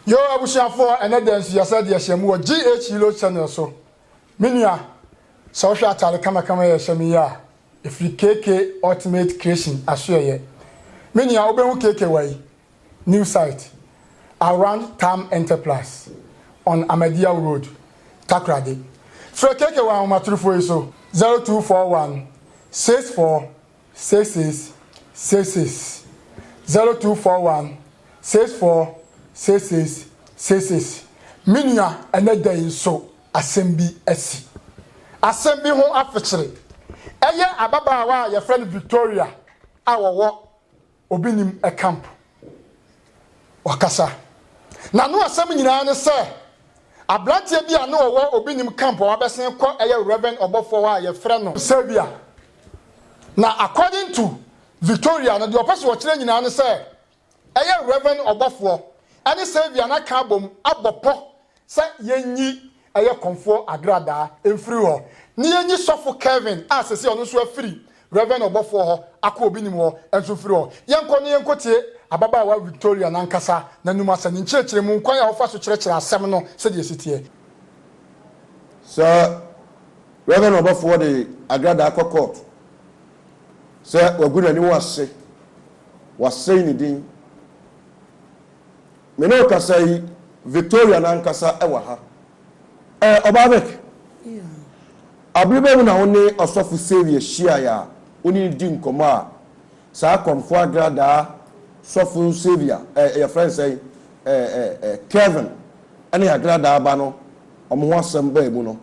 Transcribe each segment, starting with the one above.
Yoo abusuafoɔ ɛnɛ dɛn nso yɛsɛ deɛ hyɛ mu wɔ GH Yellow channel so me nua sɛ wohwɛ ataade kamakama yɛ hyɛ me yi a ɛfiri KK Ultimate Creation asoɛyɛ me nua wobɛhu KK wɔ yi new site around Tam Enterprise on Ahmadiyya Road Takoradi frɛ KK wɔ ahomatorofoɔ yi so 0241 64 six six six six zero two four one six four six six six six me nua ɛnɛ da yi nso asɛm bi asi asɛm bi ho afekyere ɛyɛ ababaawa a yɛfrɛ no Victoria a wɔwɔ Obi nim camp. Wakasa. N'ano asɛm nyinaa ne sɛ abranteɛ bi a na ɔwɔ Obi nim camp a wabɛsen kɔ yɛ Rev. Ɔbɔfoɔ hɔ a yɛfrɛ no. Xavier. Na according to Victoria no deɛ ɔpɛ sɛ ɔkyerɛ nyinaa ne sɛ ɛyɛ Rev. Ɔbɔfoɔ ne Xavier no aka abom abɔ pɔ sɛ yɛnyi ɛyɛ kɔmfoɔ agradaa mfiri hɔ ne yɛnyi sɔfo Kevin a sɛsei ɔno nso afiri Rev. Ɔbɔfoɔ hɔ akɔ obi nim hɔ nso mfiri hɔ. Yɛnkɔ na yɛnkɔtie ababaawa Victoria no ankasa n'anom asɛm, ne nkyerɛkyerɛmu, nkwan a ɔfa so kyerɛkyerɛ asɛm no sɛdeɛ ɛsi teɛ. Sɛ Rev. Ɔbɔfoɔ de agradaa kɔ kɔɔto sɛ wagu n'ani wɔ ase, wasɛe ne din, Me ne wo kasa yi, Victoria n'ankasa wɔ ha. Ɛɛ, Ɔbaa Vic, bere bɛn mu na wo ne Ɔsɔfo Xavier hyiae a wo ne no dii nkɔmmɔ a saa Kɔmfo Agradaa sɔfo Xavier, ɛɛ, wɔfrɛ no sɛn, ɛɛ, ɛɛ, Kevin ne Agradaa ba no, wɔn ho asɛm bae mu no?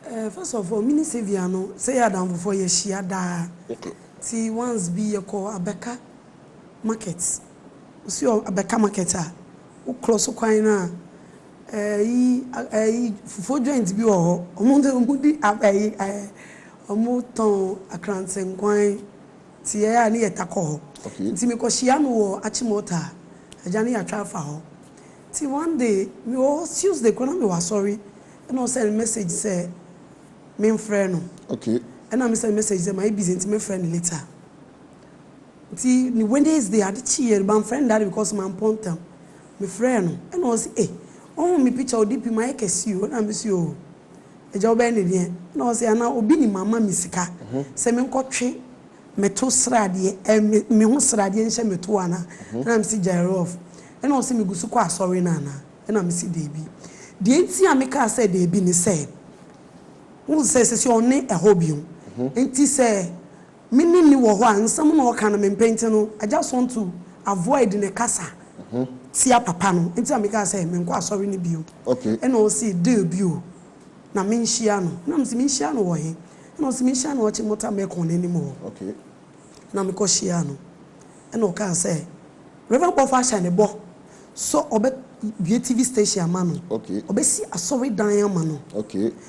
Ɛɛ, first of all, me ne Xavier no, sɛ yɛyɛ adamfofoɔ a, yɛhyia daa. Okay. Nti once bi yɛkɔɔ abɛka. market osi ɔ bɛka market a wo krɔ so kwan no a ɛyi ɛyi fufuo joint bi wɔ hɔ ɔmo de ɔmo di a ɛyi ɛɛ ɔmo tɔn akrantse nkwan nti yɛ a ne yɛ ta kɔ hɔ Okay. nti me kɔ hyia no wɔ akyemɔta a agya no yɛ atwa afa hɔ nti one day me wɔ hɔ tuesday koraa na me wɔ asɔre ɛna ɔ send message sɛ me nfrɛ no Okay. ɛna me send message sɛ mayɛ busy nti mɛ frɛ no later. Nti ne Wednesday ade kyeeɛ no mamfrɛ no dada because mampɔ ntɛm. Mefrɛɛ no ɛna ɔse ei wohu me picture wo DP mayɛ kɛse o ɛna mese oo agya wobɛyɛ no deɛn ɛna ɔse anaa obi nim ama me sika sɛ menkɔ twe meto sradeɛ ɛɛ me meho sradeɛ nhyɛ me to anaa ɛna mese gyaerof ɛna ɔse megu so kɔ asɔre no anaa ɛna mese daabi deɛ nti a mekaa sɛ daabi ne sɛ wohu sɛ sese ɔnne ɛhɔ bio nti sɛ Me ne no wɔ hɔ a nsɛm na ɔka no mempɛ nti no I just want to avoid ne kasa tia papa no nti na mekaa sɛ menkɔ asɔre no bio ɛna ɔse deal bi o na menhyia no na mese menhyia no wɔ he ɛna ɔse menhyia no ɔkye mota mɛkɔn no anim hɔ na mekɔ hyiaa no Ɛna ɔkaa sɛ Rev Bɔfoɔ ahyɛ ne bɔ sɛ ɔbɛ bue TV station ama no, ɔbɛ si asɔre dan ama no.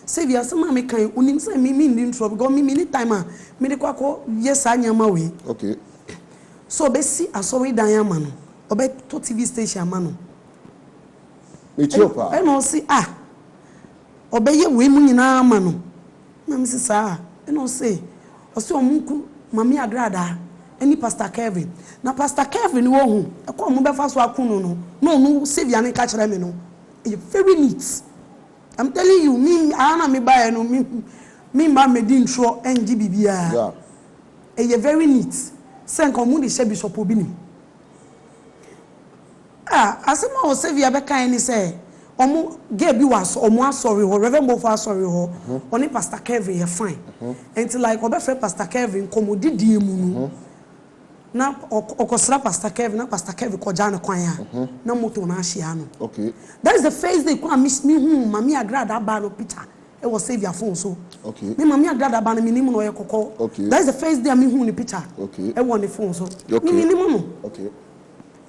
Sɛ wia asɛm a me kan yi onim sɛ me me nni ntorɔ because me me ni time a me de kɔ akɔ yɛ saa nneɛma wei. Sɛ ɔbɛ si asɔre dan ama no, ɔbɛ tɔ TV station ama no. Ɛna ɔse ah ɔbɛ yɛ wei mu nyinaa ama no. Na me se saa a na ɔse ɔse ɔmo nku Mame Adradaa ɛne Pastor Kelvin na Pastor Kelvin no ohu ɛkwan a ɔmo bɛfa so aku no no na ɔno Saviour no nka kyerɛ me no ɛyɛ very neat I'm telling you me aa na me baeɛ no me me mma mmɛdi ntorɔ ɛngye biribiara ɛyɛ very neat sɛ nka ɔmo de hyɛ Bishop Obi nim. Ah, asɛm a Osevia bɛkaeɛ ne sɛ, wɔn, girl bi wɔ asɔ, wɔn asɔre hɔ, Rev. Mofo asɔre hɔ, ɔne Pastor Kevin yɛ fine. Nti like ɔbɛfrɛ Pastor Kevin, nkɔmmɔdidie mu no, na ɔkɔ, ɔkɔsra Pastor Kevin, na Pastor Kevin kɔgya no kwan a, na motor no ahye ano. That is the first day koraa a me, mehuu Mame Agrada ba no picture wɔ Saviour phone so. Me Mame Agrada ba no, menim no, ɔyɛ kɔkɔɔ. That is the first day a mehuu ne picture wɔ ne phone so. Me, menim no.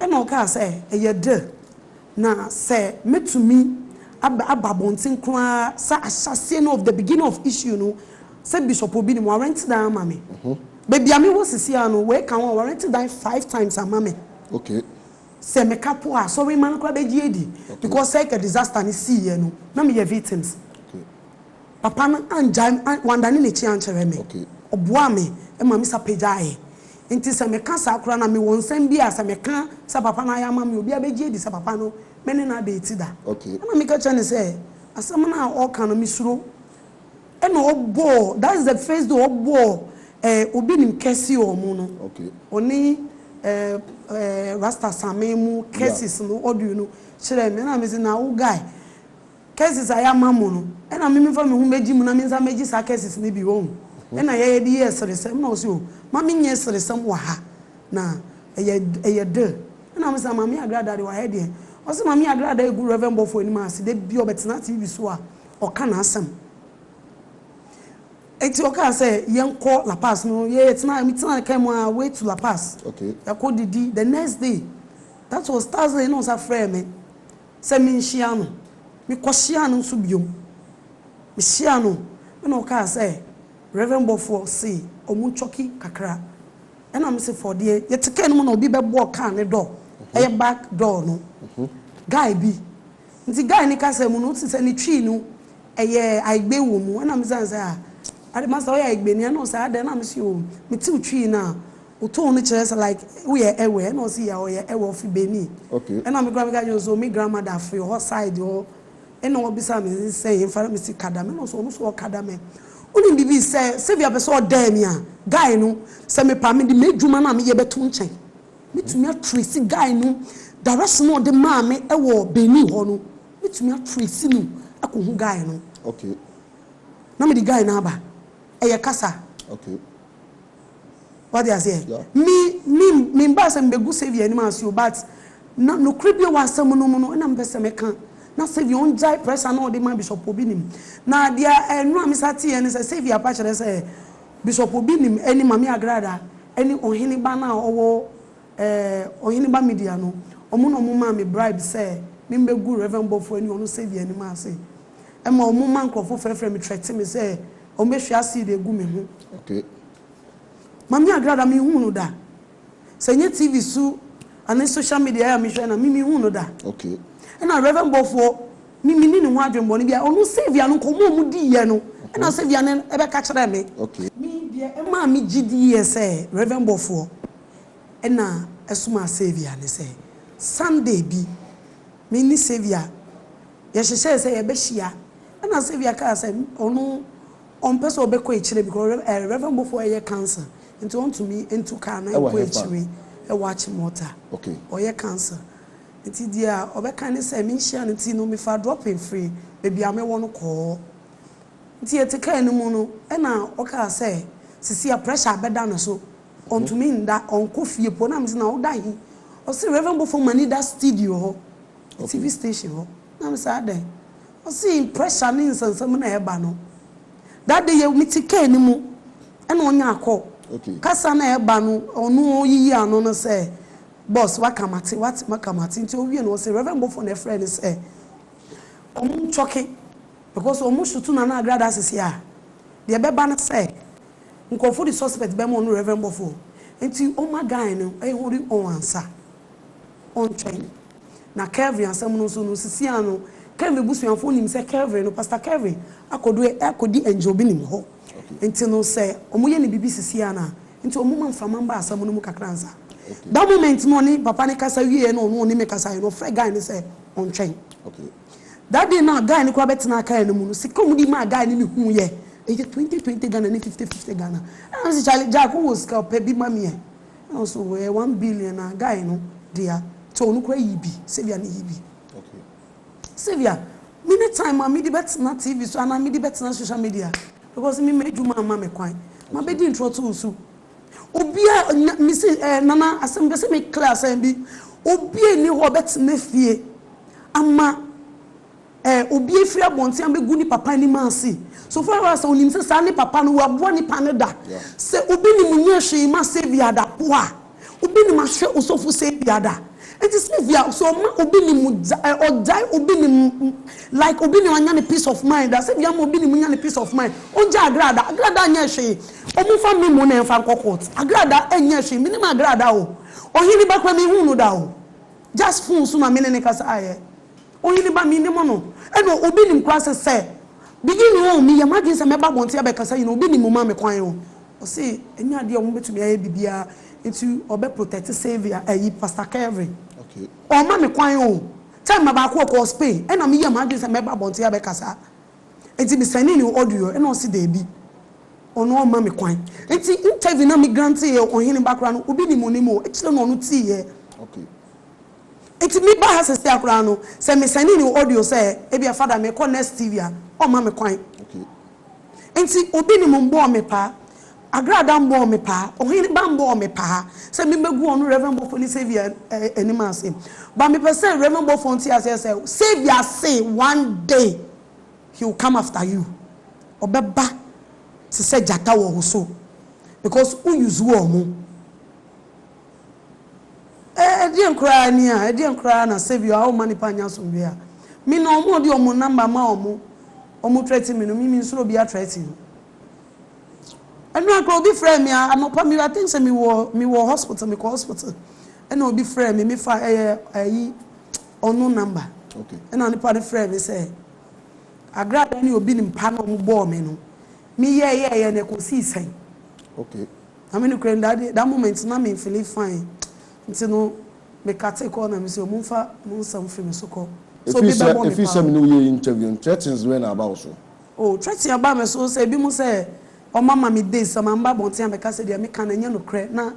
Ɛnna ɔkaa sɛ, Ɛyɛ dɛ, na sɛ mɛtumi aba aba abɔnten koraa sɛ ahyɛaseɛ no of the beginning of issue no sɛ bishop obi nim warrent dan ama me. Baabi a mewɔ sisi ara no, wei ka ho a, warrent dan five times ama me. Sɛ meka po a, asɔremma no koraa bɛgye adi because sɛ ɛka disaster no siiɛ no, na meyɛ victims. Papa no angyae, wandane n'akyi ankyerɛ me. Ɔboaa me ma me sa pagyaeɛ. Nti sɛ meka saa koraa no a, mewɔ nsɛm bi a sɛ meka sɛ papa no ayɛ ama me a, obiara bɛgye adi sɛ papa no, me ne no ada ati da. Ɛnna meka kyerɛɛ no sɛ, Asɛm no a ɔreka no, mesuro. Ɛnna ɔbɔɔ, that is the first day ɔbɔɔ eh, obi nim curse wɔ mu no. Ɔne eh, eh, Rasta Same mu curses no audio no kyerɛɛ me. Ɛnna mese, na wo guy, Curses a yɛama mo no, nna me memfa meho megye mu na me nsa megye saa curses no bi, wahu. Nna yɛyɛ de yɛɛ seresɛm, nna ɔse oh, ma me nyɛ seresɛm wɔ ha, na ɛyɛ ɛyɛ der. Nna mese ah, Maame Yagrada de, wɔ ha deɛ. Ɔse Maame Yagrada egu Rev. Bɔfoɔ anim ase, da biara ɔbɛtena TV so a, ɔka n'asɛm. Enti ɔkaa sɛ yɛnkɔ La Paz no, yɛ yɛtenaa, me tenaa car mu all way to La Paz. Okay. Yɛkɔ didi, the next day, that was Thursday, nna ɔsa frɛɛ me. sɛ menhyia no. Mekɔhyiaa no nso bio. Mehyiaa no na ɔkaa sɛ, Rev. Bɔfoɔ, se ɔmo cɔki kakra. Ɛna mese, For deɛ? Yɛte kaa no mu na obi bɛbɔɔ kaa no door, ɛyɛ back door no. Guy bi. Nti guy no kasa mu no, wote sɛ ne Twi no ɛyɛ Aigbe wɔ mu. Ɛna mesan sɛ, Ah, ade, Master woyɛ Aigbeni? Ɛna ɔse, Adɛn? Ɛna mese, Oh, mete wo Twi no a, Wo tone no kyerɛ sɛ like wo yɛ Ewe ɛna ɔse yeah ɔyɛ Ewe ɔfiri Benin okay. Ɛna me koraa me ka kyerɛ no sɛ me grandmother firi hɔ side hɔ ɛna ɔbisa me sɛ hefa na me se Kadame ɛna ɔse ɔno nso ɔwɔ Kadame Wonim biribi sɛ Saviour pɛ sɛ ɔdɛɛ me a guy no sɛ me paa me de m'adwuma no a me yɛ bɛto nkyɛn me tumi a trace guy no direction a ɔde maa me ɛwɔ Benin hɔ no me tumi a trace no akɔ hu guy no okay. Na me de guy no aba ɛyɛ kasa okay. Wate aseɛ? Me, me, membaa sɛ mebɛgu Saviour anim ase o, but na nokorɛ bi a ɛwɔ asɛm no mu no na mepɛ sɛ meka. Na Saviour ɔngyae pressure no a ɔde ma Bishop Obi Nim. Na deɛ ɛnora mesa teeɛ ne sɛ, Saviour apa kyerɛ sɛ Bishop Obi Nim ne Mame Agrada ne Ɔhene ba no a ɔwɔ ɛɛ Ɔhene ba Media no, wɔn na wɔn maa me bribe sɛ me mbɛgu Rev. Bɔfoɔ ne ɔno Saviour anim ase. Ɛma wɔn ma nkorɔfoɔ frɛfrɛ me, threaten me sɛ, Ɔmo bɛ hwie acid egu me ho. Okay. Mame Agrada me nhuu no da. Sɛ nyɛ TV so ane social media a me hwɛ na me me nhuu no da. Okay. Ɛna Rev Bɔfoɔ me me ni ne ho adwenbɔne biara. Ɔno Saviour no nkɔmɔ a ɔmo di yɛ no ɛna Saviour no ɛbɛ ka kyerɛ me. Okay. Me deɛ ɛmaa me gye di yɛ sɛ Rev Bɔfoɔ ɛna ɛsomaa Saviour ne sɛ Sunday bi me ne Saviour Yɛhyehyɛɛ sɛ yɛbɛhyia, ɛna Sylvia kaa sɛ ɔno ɔmpɛ sɛ ɔbɛkɔ akyire because Rev. ɛɛ Rev. Bofo ɛyɛ cancer nti ɔntumi ntu car na Ɛwɔ nkɔ hefa? akyire ɛwɔ Achimota, Okay. ɔyɛ cancer nti deɛ ɔbɛka ne sɛ menhyia no nti no mefaa dropping firi baabi a mewɔ no kɔɔ nti yɛte car no mu no ɛna ɔkaa sɛ sesie a pressure abɛda ne so ɔntumi nda, ɔnkɔ fie mpo na mese na woda he? Ɔse Rev. Bofo ma ne da studio hɔ. TV station hɔ na me sɛ adɛn ɔse pressure ne nsɛnsɛm na ɛɛba no that day yɛ me te car no mu ɛna ɔnya akɔ kasa na ɛɛba no ɔno ɔyiyi ano no sɛ boss waka mate wate maka mate nti ɔwie no ɔse reverend bɔfo na ɛfrɛ no sɛ ɔmo ntwɔke because ɔmo shoot na na agrada asese a deɛ ɛbɛba no sɛ nkurɔfo de suspect bɛma ɔno reverend bɔfo nti ɔma guy no ɛhori ɔn ansa. ɔntwɛn. Na Kelvin asɛm no nso no, sisi ara no, Kelvin abusuafo nim sɛ Kelvin no, Pastor Kelvin, akɔdu ɛ, akɔdi Angel Binim hɔ. Nti no, sɛ wɔyɛ no biribi sisi ara no a, nti wɔmma mframa mba asɛm no mu kakra ansa. That moment no ɔne papa no kasa wieeɛ na ɔno ɔne me kasaeɛ no, ɔfrɛɛ guy no sɛ ɔntwɛn. That day no a guy no koraa bɛtenaa car no mu no, sika a wɔde maa guy no mehuuiɛ, ɛyɛ twenty twenty Ghana ne fifty fifty Ghana. Ɛna mese, Charlie, Jack, wowɔ sika a, pɛ bi ma me ɛ. Nso wɛɛ one billion na guy no dea nti ɔno koraa yi bi Sylvia no yi bi Sylvia me ne time a mede bɛtena TV so anaa mede bɛtena social media because me m'adwuma amma me kwan ma bɛdi ntorɔ to nsu obia nya me se eh nana asɛm pɛ sɛ me clear asɛm bi obia nni hɔ ɔbɛtena fie ama Ɛ, obi afiri abɔnten abɛgu ne papa anim ase. So far as ɔnim sɛ saa ne papa no, waboa nipa no da. Sɛ obi nim nyɛ hwee mma Saviour da po a, obi nim ahwɛ osɔfo Saviour da. Enti Saviour, sɛ ɔma obi nim gya ɛ, ɔgyae obi nim m, like obi nim anya ne peace of mind da, Saviour ama obi nim nya ne peace of mind, ɔngya agra da. Agra da nyɛ hwee. Wɔmfa memo na ɛmfa nkɔ court. Agra da nyɛ hwee. Menim agra da o. Ɔhene ba koraa menhuu no da o. Just phone so na me ne no kasaeɛ. Ɔhene ba, menni mo no. Ɛnna obi nim koraa se sɛ, Beginning o, meyɛ m'adwene sɛ mɛba abɔnten abɛkasa nyina, obi nim mo ma me kwan o. Ɔse, Ɛnyɛ adeɛ a wɔbɛtumi ayɛ biribiara nti ɔbɛ protect Sylvia, ɛyi, Pastor Kelvin. Ɔmma me kwan o. Time baako ɔkɔɔ Spain, ɛnna meyɛɛ m'adwene sɛ mɛba abɔnten abɛkasa. Nti me sɛnee no audio, ɛnna ɔse daabi, ɔno ɔmma me kwan. Nti interview no a me granteeɛ Ɔhene ba koraa no, obi nim ɔnim o, ɛkyerɛ no ɔno teeɛ. Nti me ba ha sesea koraa no sɛ me sɛne ne audio sɛ ebia Father me kɔ next TV a ɔmma me kwan. Nti obi ne mo mbɔɔ me paa, Agrada mbɔɔ me paa, Ohene ba mbɔɔ me paa sɛ me mɛgu ɔno Rev Bɔfoɔ ne Saviour anim ase. But me pɛ sɛ Rev Bɔfoɔ nte aseɛ sɛ Saviour se one day he will come after you. Ɔbɛba te sɛ gyata wɔ wo so because wo use wɔɔmo. Ɛdeɛn koraa ni a, ɛdeɛn koraa na Saviour a ɔmma nnipa nnya asomdwoeɛ a, me na wɔn a wɔde wɔn number ma wɔn, wɔn threaten me no, me mensuro obiara threaten no. Ɛno ara koraa obi frɛɛ me a, anɔpa me, I think sɛ me wɔ, me wɔ hospital, me kɔ hospital, ɛna obi frɛɛ me, me fa ɛyɛ ayi unknown number, ɛna nipa no frɛɛ me sɛ, Agrada ne obi ne mpa na wɔn bɔɔ me no, me yɛɛyɛɛyɛ no ɛkɔsii sɛn? Okay. Na me nokorɛ nim that day that moment na me feeling fine nti no me cutee call na me se ɔmomfa mo nsɛm mfiri me so kɔ sɛ obi bɛbɔ me paa. Ɛfiri sɛ me ne wo yɛɛ interview no threatens bɛn na aba wo so? Oh threaten abaa me so sɛ binom sɛ wɔn ama me days sɛ mamma abɔnten ammɛka sɛ deɛ meka no ɛnyɛ nokorɛ na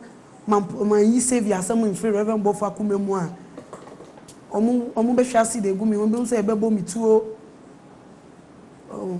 manyi Saviour asɛm mfiri Rev Bɔfoɔ akoma mu a wɔn wɔbɛhwe acid agu me ho binom sɛ yɛbɛbɔ me tuo oh.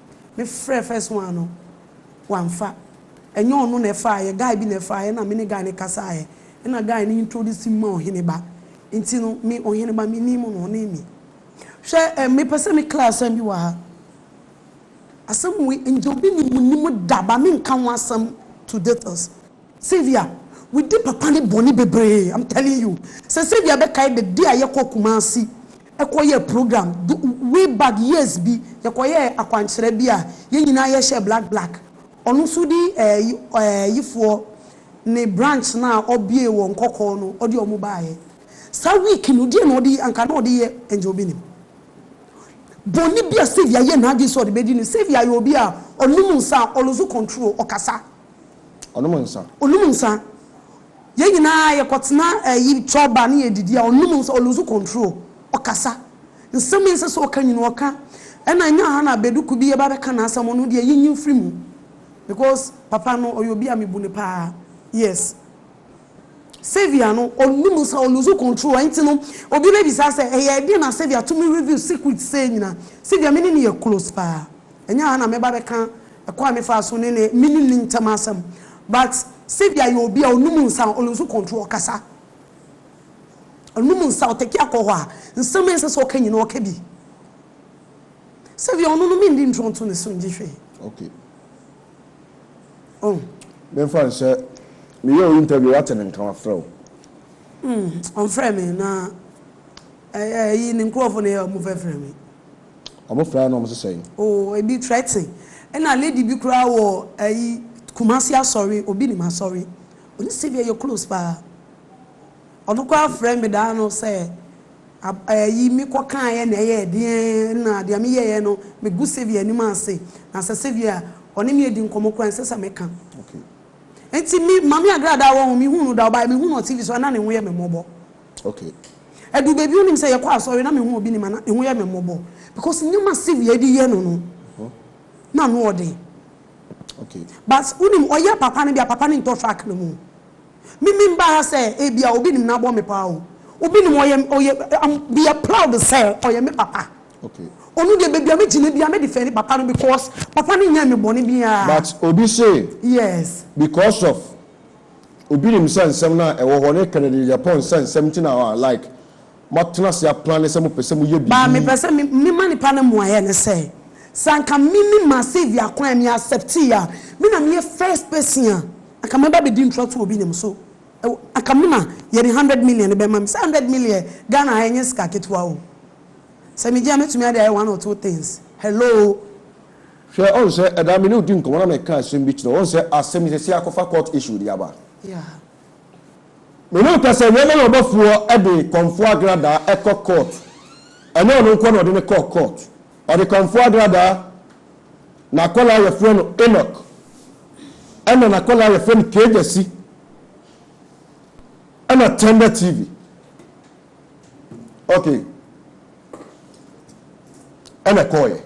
Me frɛ first one no wamfa ɛnyɛ ɔno na ɛfaaeɛ guy bi na ɛfaaeɛ na me ne guy no kasaaɛ ɛna guy no introduce me ma ɔhene ba nti no me ɔhene ba me nim no ɔne me hwɛ eh me pɛ sɛ me clear asɛm bi wɔ ha asɛm wei ngyɛ obi nim nim da ba me nka ho asɛm to details. Sylvia we di papa ne bɔne bebree am telling you sɛ Sylvia bɛkae the day a yɛkɔ Kumasi kɔ yɛɛ program do way back years bi yɛkɔ yɛɛ akwankyerɛ bi a yɛn nyinaa yɛ hyɛɛ black black ɔno nso di ɛɛ yifoɔ ne branch no a ɔbue wɔ Nkɔkɔɔ no ɔde ɔmo baayɛ saa week no deɛ na ɔde anka na ɔde yɛ ɛngye obi nim bɔne bi a Sylvia yɛ n'adwene sɛ ɔde bɛdi no Sylvia yɛ obi a ɔnom nsa a ɔlose control ɔkasa Ɔnom nsa. Ɔnom nsa. Yɛn nyinaa yɛkɔtena ɛyi chɔ ba ne yɛdidi a ɔnom nsa ɔ lose control. Ɔkasa. Nsɛm a ɛnsɛ sɛ ɔka nyina ɔka. Ɛna ɛnyɛ aha na Beduku bi yɛba bɛka n'asɛm ɔno deɛ yɛnyi mfiri mu because papa no ɔyɛ obi a mebu no paa yes. Saviour no ɔnom nsa ɔ lose control ɛnti no obi bɛbisa sɛ ɛyɛ ɛdeɛn na Saviour tumi reveal secret sei nyina. Saviour me ne no yɛ close paa ɛnyɛ aha na mɛba bɛka Ɛkwan a me faa so ne ne me ne ne ntɛm asɛm but Saviour yɛ obi a ɔnum nsa a ɔlusu control ɔkasa ɔnum nsa ɔtɛki akɔhɔ a nsɛm a ɛnsɛ sɛ ɔka nyina ɔka bi Saviour ɔno no me ndi ntorɔ nto ne so ngye hwee okay oh me nfa nhyɛ me yɛ o interview wate ne nka wa frɛ o mm ɔnfrɛ me na ɛyi ne nkorɔfo na yɛ ɔmo fɛ frɛ me. Ɔmo frɛ no ɔmo se sɛn? Oh ebi threaten ɛna lady bi koraa wɔ ɛyi Kumasi asɔre obi nim asɔre ɔne Sylvia yɛ close paa ɔno koraa frɛ me daa no sɛ ɛyi me kɔ kaeɛ na ɛyɛɛ deɛn ɛna deɛ me yɛɛ no me gu Sylvia anim ase na sɛ Sylvia ɔne me adi nkɔmɔ koraa ɛnsɛ sɛ me ka ɛnti me Maame Agradaa wɔ ho me hu no daa ɔbaeɛ me hu no wɔ TV so ɛna ne ho yɛ me mmɔbɔ Okay. Ɛdu baabi wonim sɛ yɛkɔ asɔre na mehu obi nim a na eho yɛ me mmɔbɔ because nneɛma Sylvia ɛde yɛ no no na ano ɔden. Okay. But wonim ɔyɛ papa no bi a papa no ntɔ track no mu. Me me mba ha sɛ ebia obi nim na abɔ me paa o. Obi nim ɔyɛ ɔyɛ am we are proud sɛ ɔyɛ me papa. Okay. Ɔno deɛ baabi a me gyina bia me defend papa no because papa no nyɛɛ me bɔne biaa. But obi say. Yes. Because of. Obi nim sɛ nsɛm no a ɛwɔ hɔ ne Kennedy Agyapong nsa nsɛm nti na a like moatena ase aplane sɛ mopɛ sɛ moyɛ Ba biribi. mepɛ sɛ me ma nipa no mmuaeɛ ne sɛ, sɛ anka me ne ma Sylvia kwan me acceptee a, me na meyɛ first person a anka mɛba bɛdi ntra to obi nim so wɔ anka me na yɛde hundred million no bɛma me sɛ hundred million Ghana ha ɛnyɛ sika ketewa o sɛ megye a mɛtumi ade ayɛ one or two things hello Hwɛ, ɔn sɛ, ɛda a me ne wo dii nkɔmmɔ na me kaa asɛm bi kyerɛɛ wo, ɔn sɛ, asɛm yi, seesei akɔfa court issue de aba. Me ne wo kasae, na ɛma me ɔbɔfoɔ de kɔmfoɔ agradaa kɔ court. Ɛnyɛ ɔno nko ara na ɔde no kɔɔ court. Ɔde kɔmfoɔ agradaa, n'akwadaa a wɔfrɛ no Enoch, ɛna n'akwadaa a wɔfrɛ no Kejasi, ɛna Tender TV. ok ɛna ɛkɔɔyɛ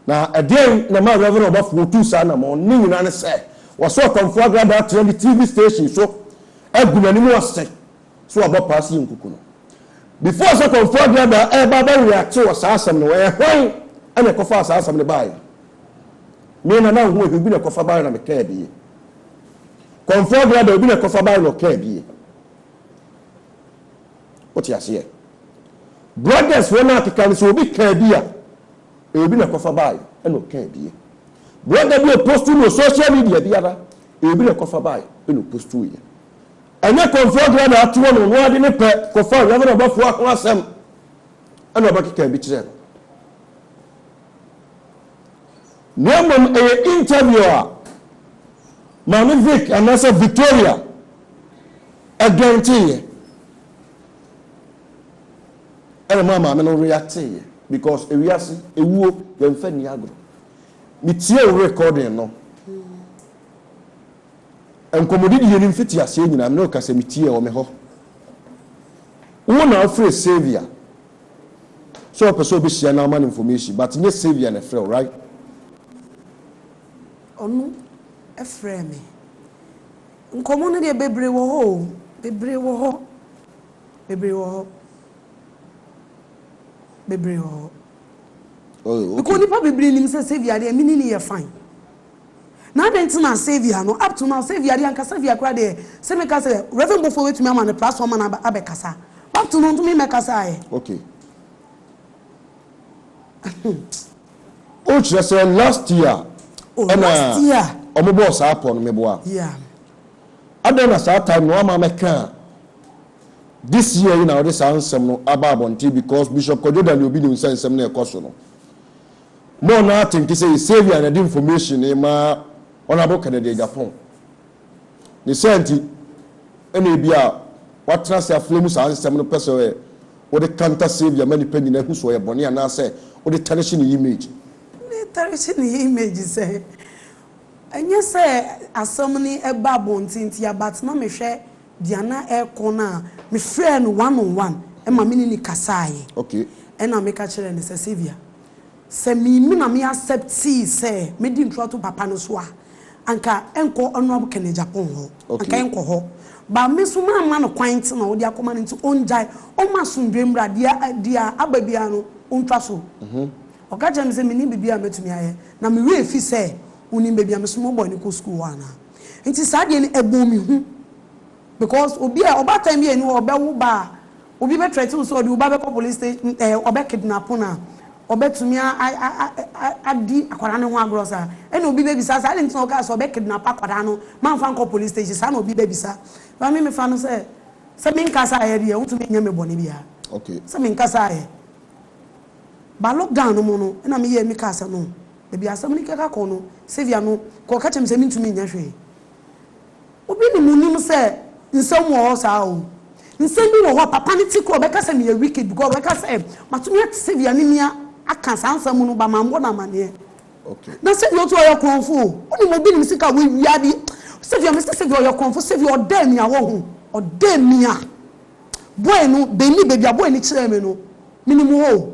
na ɛdeɛn na ma reverend ɔbɔfoɔ tu saa nam ɔne nyinaa ne sɛ wɔsɛ ɔkɔmfoɔ agradaa tena ne tv station so agu n'anim ase so ɔbɔ paa si nkuku no before sɛ kɔmfoɔ agradaa ɛba bɛwe ate wɔ saa asɛm no ɛyɛ hwan ɛna ɛkɔfaa saa asɛm no baeɛ me na na ho ehu bi na ɛkɔfa baeɛ na mekɛɛ bie Kɔmfoɔ deɛ da obi na kɔfa bae na ɔkaa bie. Wote aseɛ? Brothers wɔn a keka no sɛ obi kaa bi a, ɛyɛ obi na kɔfa bae na ɔkaa bie. Brother bi opostu no social media biara, ɛyɛ obi na kɔfa bae na opostu yɛ. Ɛnyɛ kɔmfoɔ deɛ na atoɔ no, ɔno ade ne pɛ kɔfa Reverend Ɔbɔfoɔ ho asɛm na ɔbɛkeka bi kyerɛ no. Na mmom ɛyɛ interview a Maame Vic anaasɛ Victoria guaranteeɛ ɛna maa maame no reacteeɛ because ewiase ewuo yɛnfa nni agorɔ. Metie wo recording no nkɔmmɔdidie no mfitiaseɛ nyinaa me ne wo kasa metie wɔ me hɔ. Wo na wofrɛ Saviour. sɛ ɔpɛ sɛ ɔbɛhyia na ama no information but nyɛ Saviour na ɛfrɛ wo right. Ɔno ɛfrɛɛ me. Nkɔmmɔ no deɛ bebree wɔ hɔ o, bebree wɔ hɔ, bebree wɔ hɔ, bebree wɔ hɔ. Oh, okay. Because nipa bebree nim sɛ Saviour adeɛ mini ni yɛ fine. Na adɛn nti na Saviour no, up to now, Saviour deɛ anka Saviour koraa deɛ, se meka sɛ Rev. Bofoɔ bɛtumi ama no platform ma no aba abɛkasa, but up to now ɔntumi mmɛkasaa ɛ. Okay. Oh, kyerɛ sɛ last year Oh, ɛna last year. wɔn bɔɔ saa pɔ no, meboa. Yeah. Adɛn na saa time no wamma mɛka a, this year yi na wode saa nsɛm no aba abɔnten because Bishop Kwadwo Daniel Obido nsɛnsɛm no a ɛkɔ so no, Mo a na atenke sɛ yɛ Saviour na ɛde information no ma wɔn abo Kennedy Agyapong. Ne saa nti na ebia watena ase aflɛ mu saa nsɛm no pɛ sɛ wode kanta Saviour ma nnipa nyinaa hu sɛ ɔyɛ bɔne anaasɛ wode tarnish ne image. Wode tarnish ne image sɛn? Ɛnyɛ sɛ asɛm no ba abɔnten ntia but na mehwɛ. Deɛ na ɛrekɔ no a, mefrɛɛ no one on one, ɛma me ne no kasaeɛ. Okay. Ɛna meka kyerɛɛ no sɛ, Saviour, sɛ me me na me acceptee sɛ mɛdi nturato papa no so a, anka ɛnkɔ Honourable Ken Agyapong hɔ. Okay. Anka ɛnkɔ hɔ. But me nso mamma no kwan nti na ɔde akɔma no nti ɔngyae, ɔmma asomdwoeɛ mmra, deɛ deɛ aba biara no ɔntwa so. Ɔka kyerɛɛ me sɛ, mennim biribiara a mɛtumi ayɛ. Na me werɛ fi sɛ wonim baabi a me nso mebɔɔ no kɔɔ sukuu hɔ anaa. Nti saa deɛ no ɛbɔɔ me hu because obi a ɔbaatan bi a ɛni hɔ ɔbɛwo ba a obi bɛ threaten wo sɛ ɔde wo ba bɛkɔ police station ɛɛ ɔbɛ kidnap no a ɔbɛtumi a a a a adi akwadaa no ho agorɔ saa ɛna obi bɛbisa sɛ adɛn nti na ɔkaa sɛ ɔbɛ kidnap akwadaa no mamfa nkɔ police station saa na obi bɛbisa ba me mefa no sɛ sɛ menkasa ayɛ deɛ wontumi nyɛ me bɔne biara okay sɛ menkasa ayɛ ba lockdown no mu no ɛna meyɛ me kaa sɛ no Baabi a asɛm no keka kɔ no, Sylvia no kɔɔ ka kyerɛɛ me sɛ mintumi nyɛ hwee. Obi nim nim sɛ nsɛm wɔ hɔ saa oo. Nsɛm bi wɔ hɔ a, papa no ti kura, ɔbɛka sɛ meyɛ wicked because ɔbɛka sɛ matumi ate Sylvia ne me aka saa nsɛm no ba mambɔ no amanneɛ. Na Sylvia nso ɔyɛ korɔmfo o. Wonim obi nim sika a wawia ade. Sylvia, mese Sylvia ɔyɛ korɔmfo, Sylvia ɔdɛɛ me a woahu, ɔdɛɛ me a. Boy no, Benni, baabi a boy no kyerɛɛ me no, menim hɔ o.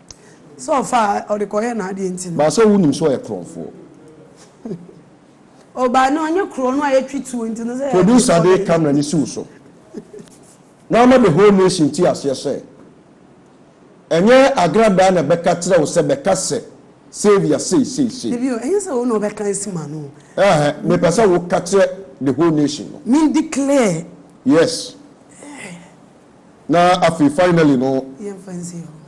Sɛ ɔfa a, ɔde kɔyɛ n'adeɛ nti no. Ba sɛ wonim sɛ ɔyɛ korɔmfoɔ. O ba no ɔnyɛ korɔ no a yɛtwi tuo nti no sɛ. Producer de camera no si wo so na ama the whole nation te aseɛ sɛ ɛnyɛ agradaa na ɛbɛka kyerɛ wo sɛ bɛka sɛ Saviour sei sei sei. Dabi o, ɛnyɛ sɛ wo na wobɛka asi m'ano o. Ɛɛhɛ, mepɛ sɛ woka kyerɛ the whole nation no. Me declare. Yes. Na afei finally no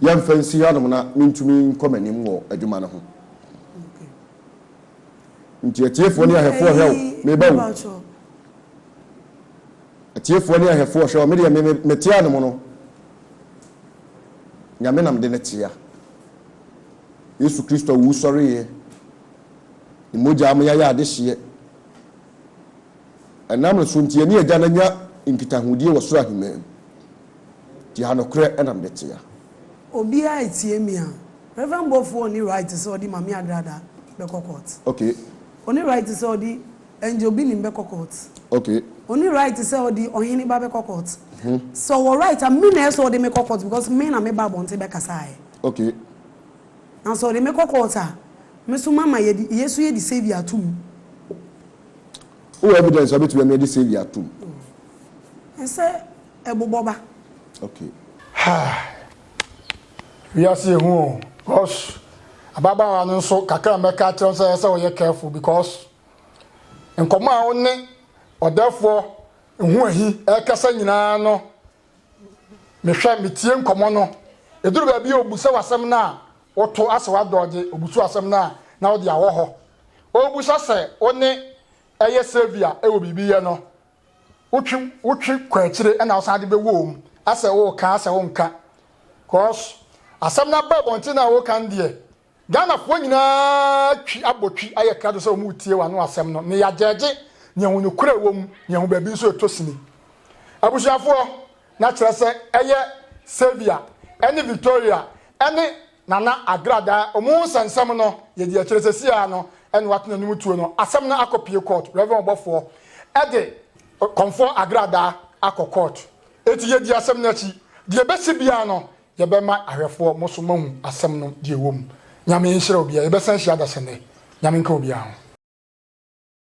yɛmfa nsi hanom na mentumi nkɔ m'anim wɔ adwuma no ho. Nti atiefoɔ ne ahwɛfoɔ hwɛ o, meba o. Atiefoɔ ne ahwɛfoɔ hwɛ o, me deɛ me mete anom no, Nyame na mede no tea. Yesu Kristo a owusɔreeɛ, Ne mogyaa mo yɛayɛ adehyeɛ. Ɛnam no so nti yɛne Agya no anya nkitahodie wɔ soro ahemman mu. Te ha nokorɛ na mede te ha. Obiara etie me a. Rev Boafo ɔni right sɛ ɔde Mame Adrada bɛkɔ court. Okay. Ɔni right sɛ ɔde Angel Binim bɛkɔ court. Okay. Ɔni right sɛ ɔde Ɔhene ba bɛkɔ court. Mhm. Sɛ ɔwɔ right a me na ɛsɛ ɔde me kɔ court because me na me ba abɔnten bɛkasa ɛ. Okay. Na sɛ ɔde me kɔ court a, me so mama yɛde, yɛso yɛde Saviour ato mu. Wowɔ evidence a wobɛtumi ɛno ɛde Sylvia atom? Ɛsɛ ɛbobɔ ba. Okay. Haa wiase ehu o cos ababaawa no nso kakra a mɛka akyerɛ no sɛ ɛsɛ ɔyɛ careful because nkɔmɔ a wo ne ɔdɛfoɔ ho ahi ɛkasa nyinaa no Mehwɛ, metie nkɔmmɔ no. Ɛduru baabi a ɔbusa wo asɛm no a, woto asɛ w'adɔɔgye. Ɔbusa wo asɛm no a, na wode awɔ hɔ. Ɔrebusa sɛ wo ne ɛyɛ Sylvia wɔ biribi yɛ no, wotwe wotwe kɔ akyire ɛna wosan de bɛwom asɛ woreka asɛ wonka. Cos asɛm no aba abɔnten no a woreka no deɛ, Ghanafoɔ nyinaa twi abɔ twi ayɛ krado sɛ wɔn retie w'ano asɛm no ne yɛagyɛɛgye nea hu nokorɛ a ɛwɔ mu, nea hu baabi nso ɛtɔ sini. Abusuafoɔ, na kyerɛ sɛ ɛyɛ Sylvia ɛne Victoria ɛne Nana Agradaa wɔn nsɛnsɛm no yɛdi akyire sɛsi ara no ɛna wɔato n'anim tuo no, asɛm no akɔ pie kɔɔt, Rev. Ɔbɔfoɔ ɛde Kɔmfoɔ Agradaa akɔ kɔɔt, enti yɛdi asɛm no akyi, deɛ ɛbɛsi biara no Yɛbɛma ahwɛfoɔ mo so moahu asɛm no deɛ ɛwɔ mu. Nyame nhyira obiara. Yɛbɛsan ahyia adasa nnɛ. Nyame nka obiara ho.